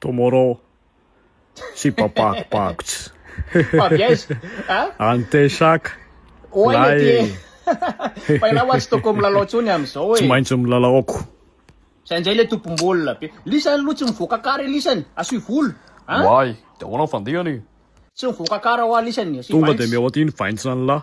Tomorrow tsy papako pakots. Avy aiza? A? Any Teshaka. Oay le ty e. Fa ialahy hoa tsy tokony milalao tsony amizao e. Tsy maintsy milalao ako. Zay njay le tompom-bola be. Lisany aloha tsy mivoaka kara e lisany, asio volo a. Oay, de ahoana ny fandehany e. Tsy mivoaka kara hoa lisany, asio vaints. Tonga de mihoaty iny vaints anlah.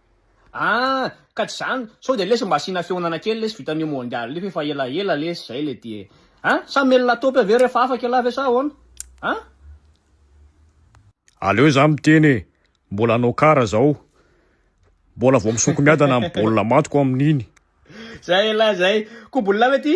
Ah! ka tsy zany? Sao dia lesy mba asiana fihaonana kely lesy vita an'io mondial io f'efa ela ela lesy zay le ty e! An! Sa mely latopy avy eo rehefa afaka ialahy ve sa ahoana? An! Aleo za miteny e! Mbola hanao kara zao! Mbola vao misoko miadana ny baolina matiko amin'iny! Zay elah zay! Kobolina ve ty?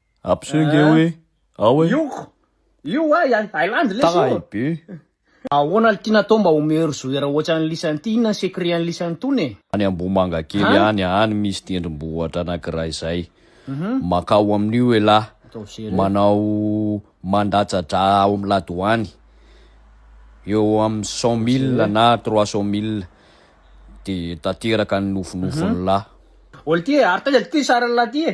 Abseo nge hoe ao e. Io io wa i Island lesy io. Tahay be. Ahoana ity natao mba ho meilleur joueur ohatran'i Lisany ity, inona ny secret an'i Lisany tony e? Any Ambohimangakely any, any misy tendrombohitra anankiray zay. Makao amin'io elah. Manao mandatsa-dra ao amin'ny ladoany, eo amin'ny cent mille na trois cent mille dia tanteraka ny nofinofin'lah. Ol ty e, ary taiza ty ty sarin'lah ty e?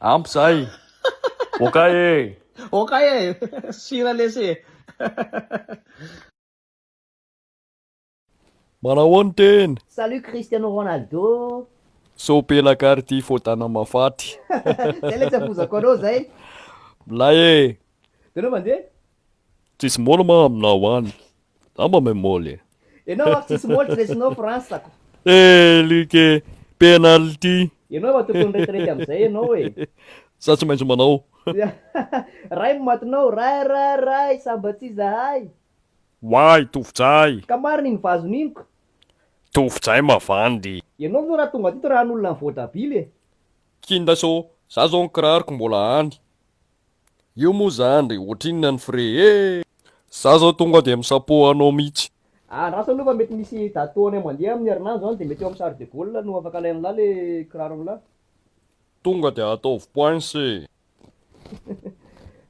Ampy zay. Okay e. Okay e. Sira lesy e. Manao ahoana tena? Salut Cristiano Ronaldo. Sao pelaka ary ity fotana mafaty. Zay le tsy afozako anao zay. Milay e. De anao mandeha? Tsisy môlma aminao any. Angamba me Moly e. Enao aho tsisy moly tsy resinao fransako. Eh Luc e, penalty. Enao efa tokony retirety amzay enao e. Za tsy maintsy manao. Ray no matinao, ray ray ray sa mba tsy zahay. Why Tofojay. Ka marina iny vazony iny ko. Tofojay mavandy. Enao zao ra tonga teto ra an'olona ny voatabily e. Kinda so, za zao ny kiraroko mbola any. Io moa zany ry ohatrinona ny frais eh! Za zao tonga dia misapo anao mitsy. Andraso aloha fa mety misy daty tohanay mandeha amin'ny herinandro any dia mety eo amin'ny Charles de Gaulle no afaka alain'lah le kiraron'lah. Tonga dia ataovy points e!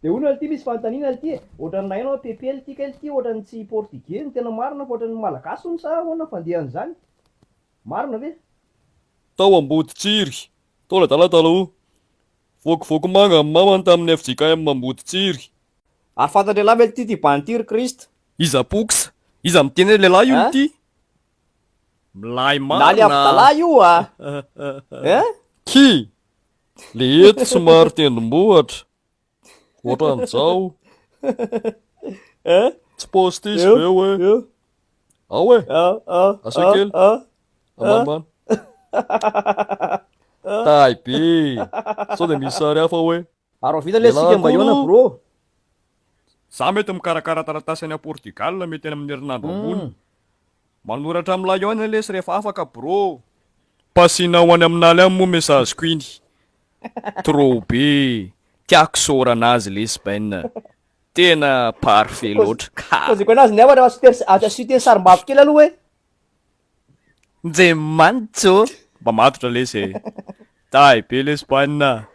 Dia hono lty misy fanontaniana lty e! Ohatran'ny nahaino aho PP lty kay lty ohatran'ny tsy portugais no tena marina fa ohatran'ny malagasy hono sa ahoana ny fandehan'izany? Marina ve? Tao Amboditsiry, tao ladala taloha, Voakivoaky manga ny mamany tamin'ny fjkm Amboditsiry. Ary fantan-drehilahy mety tia ty band ty ry Christ. Iza poux? Iza miteny hoe lehilahy io ity? Milay marina a! Nani Abdallah io a! Hein? Ki! Le eto somary tendrombohitra. Ohatran'izao. Hein? Tsy paositisa ve hoe? Ao e! Asio kely. Amama. Tahay be. Sao dia misy sary hafa hoe. Arovita le sika mba iona bro. Za mety mikarakara taratasy any Portugal mety any amin'ny herinandro ambony. Manoratra amin'ny lahiona lesy rehefa afaka bro. Pasina ho any amin'aly any moa message ko iny. Trop be. Tiako isaorana azy lesy Ben. Tena parfait loatra. Ka. Taziko anazy ny hafatra fa tsy te tsy te ny sarimbavy kely aloha hoe. Nje manjo. Mba matotra lesy e. Tahy be lesy banina.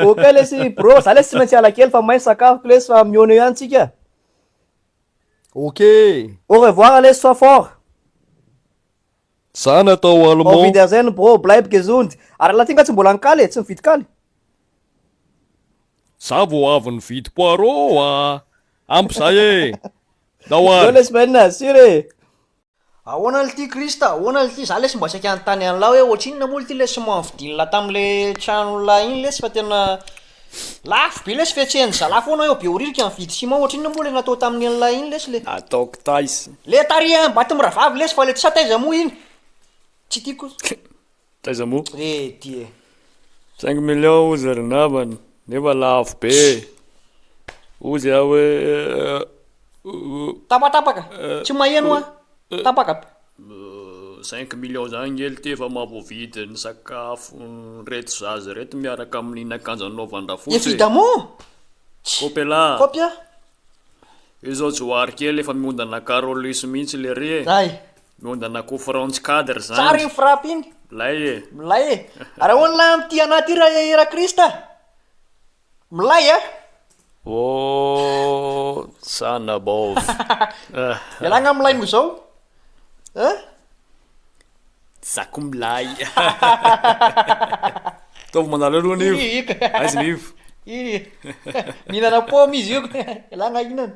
Ok lesy bro, za lesy tsy maintsy ala kely fa may sakafoko lesy fa mihaona eo ihany tsika. Ok. Au revoir lesy sois fort. Za natao Au allemand. wiedersehen bro, bleib gesund. Ary raha ty nga tsy mbola nikaly e, tsy nividy kaly. Za vao avy nividy poireaux a! Ampy zay e! Don't worry. Zao lesy maina, sûr e! Ahoana lty Christ, ahoana lty, za lesy mba saika hanontany anla hoe ohatrinona moa lty lesy moa nividinla tamle tranonla iny lesy fa tena lafo be lesy fihetsehany zala foana eo behoririka nividy ciment ohatrinona moa le natao taminy anla iny lesy le Ataoko taiza. Le tarihan'i Bato mirahavavy lesy fa le tsy sa taiza moa iny? Tsy tiako. Taiza mo? Re ty e. Cinq millions ozy ry namana nefa lafo be ozy aho hoe oh. Tapatapaka, tsy maheno an, tapaka be. Cinq millions zany nge le ty efa mahavoavidy ny sakafon'ireto zaza ireto miaraka amin'iny akanjo anaovan-drafotsy e. Evidemment! Kopela! Kopia! Io zao johary kely efa miondana carolus mihitsy lery e. Zay! Miondana kofraontsy cadre zany. Tsara iny frappe iny. Milay e. Milay e. Ary ahoana lahy amin'ity anah ity raha hihira Krista? Milay a! Hosanna bov. Ialahy angaha milay noho izao a? Za koa milay. Ataovy manareo aloha anio. Aiza ny ivo? Mihinana paoma izy io. Ialahy angaha hihinana.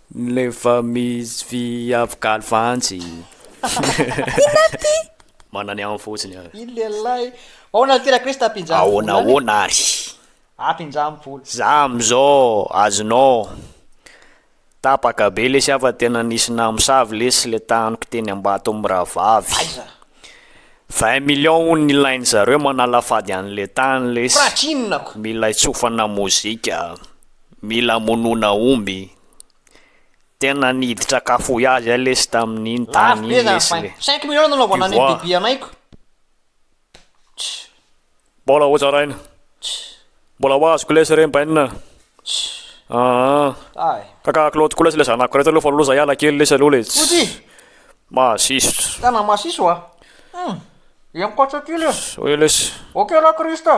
Nleva mis vy avy galy vanjy. Inona no tia? Manana ny aminy fotsiny an. Iny lehilahy. Aona ary tena Kristy ampinjany vola any? Aona aona ary. Ampinjany vola. Za amzao azonao. Tapaka be lesy aho fa tena nisy namosavy lesy le taniko teny ambato am rahavavy. Aiza? Vingt millions hono nilainy zareo manala fady anle tany lesy. Praky inona ko? Mila hitsofana mozika. Mila hamonoana omby. Tena niditra kafohy azy aho lesy tamin'iny tany iny lesy le. Cinq millions nanaovana an'iny bebe anaiko. Mbola ho zaraina. Mbola ho azoko lesy re mbainina a. Aa ka ka klody koa lesy le zanako reto aloha fa loza hiala kely lesy aloha le. Fotsy. Mahasisotra. Tena mahasiso a. Hum. Dia ankoatra aty lesy. Zao e lesy. Ok ra Christ a.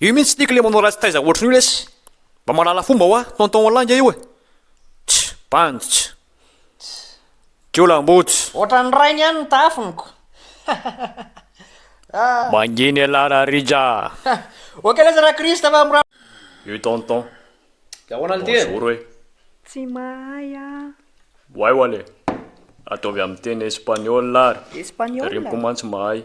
Io mintsy tiako le manao ratsy taiza ohatrin'io lesy mba mahalala fomba hoa tonton ho lainga io e tch bandy tch jiolahimboto tch. Ohatran'ny rainy ihany ny tafiniko ah. Mangina ialahy ra Rija ah. Ok lesy ra Christ fa mora. Io tonton. De ahoana le ty e. Bonjour e. Tsy mahay ah. Wai wale. Ataovy amin'ny teny espaniola ary. Espaniola? Ry mko mantsy mahay.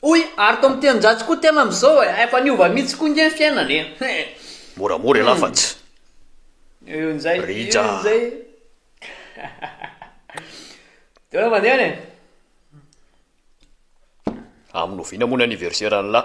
Hoy ary tao amin'ny teninjatsy koa tena amin'izao e, efa niova mihitsy koa nge ny fiainana e, hein. Moramora ialahy fa tsy. Io njay, Rija. io njay. De hoe mandeha any e. Amin'ny oviana moa ny anniversaire an'lah?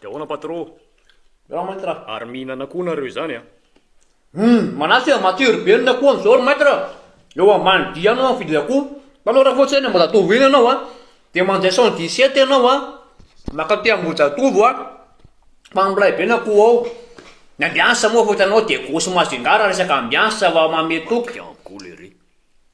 De ahoana patro? Miarahaba maître a! Ary mihinana koa nareo izany a! Humm! Manasa e! Matsiro be ny akoho amin'izao ry maître a! Eo ambany vy any no mividy akoho. Hitanao raha fotsiny any Ambohijatovo iny ianao a, dia mandeha cent dix sept ianao a, mankaty Ambohijatovo a, fa milay be ny akoho ao. Ny ambiance moa efa hitanao dia gauche mazingarra resaka ambiance vao mamehy toky.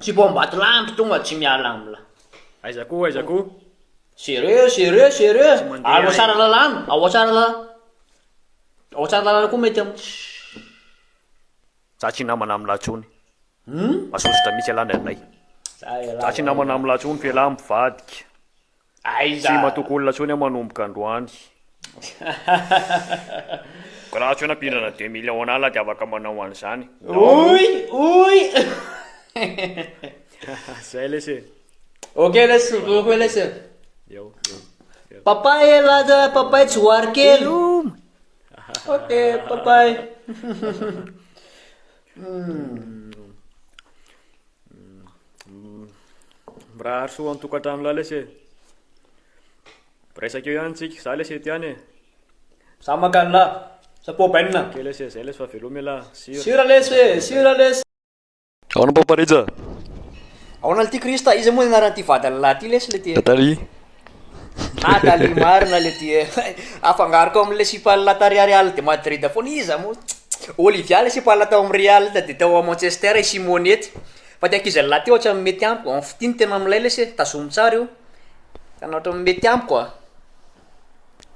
Tsy vao ambatolampy tonga tsy miala amla. Aiza koa aiza koa. Sérieux sérieux sérieux ary ao Tsaralalana ao Tsaralalana ao Tsaralalana koa mety am. Za tsy namana amla tsony. Hum. Masosotra mitsy ialahy ndray. Za ialahy. Za tsy namana amla tsony f'ialahy mivadika. Aiza? Tsy matoky olona tsony aho manomboka androany. Grace hoe nampindrana deux millions an'ala de afaka manao an'izany. Oy! Oy! Zay lesy e. Ok lesy, ok koa lesy e. Eo, eo. Papay e Laja, papay tsy hoary kely. Ok, papay. Mirahary soa an-tokantrano lahy lesy e. Resaka eo ihany tsika, za lesy ety ihany e. Za makany lahy, za pobainina. Ok lesy e, zay lesy fa veloma elah. Sira. Sira lesy e, sira lesy. Ahoana Papa Rija? Ahoana lty Christa? Iza moa ny anaran'ity vadiny lahy ity lesy le tena? Tataria. Na Dali marina le ty eh! Afangaroko amle sipa lata ry Real de Madrid foana iza mo? Olivia le sipa lata tao am Real de tao am Manchester i Simone ty fa ty ankizy lahy ty ohatran mety amiko en fitia ny tena milay lesy eh tazomy tsara io tena ohatran mety amiko ah.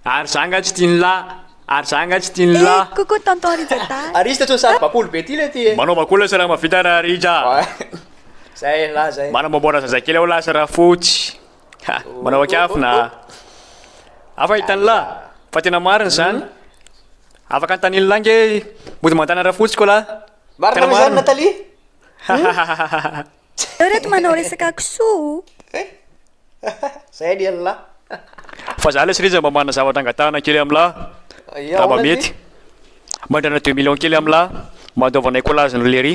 Ary za nga tsy tia ny lahy ary za nga tsy tia ny Eh, lahy. coucou tonton Rija Dahy. Ary izy tetsy ny sary bakolo be ty le ty eh. Manaova koa lesy raha mahavita ra Rija. Zay lahy zay. Manamboamboara zazakely ao lasy ra fotsy. Ha! Manao an-kiafina a! Hafa i Tanilà fa tena marina izany. Afaka ny Tanilà ange mody mandana rafotsy ko lah. Marina ve izany Nathalie? Hahahahahahah. Zareo ireto manao resaka kisoa o! Zay ny an'lah. Fa za lesy Rija mba manana zavatra angatahana kely amin'lah raha mba mety. Mandrana deux millions kely amin'lah mba andaovanay collage an'i Lery.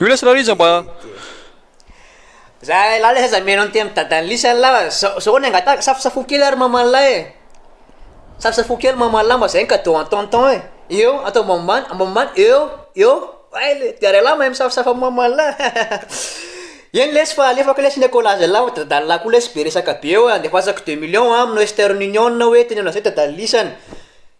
Oula sy Rarija mba. Zay lahy lesy aza mino an'ity amin'ny dadan'i Lisy an'la fa zao zao ny angatahako safosafoy kely ary maman'la e! Safosafoy kely maman'la mba zay ny cadeau an'i tonton e! Eo atao ambanimbany ambanimbany eo eo hay le dia r'ahy lahy mahay misafosafo amin'ny maman'la e! Eny lesy fa alefako lesy ny akolazy an'la fa dadan'la koa lesy be resaka be eo e! Andefasako deux millions a amin'i western union hoentiny amin'izay dadan'i Lisy any.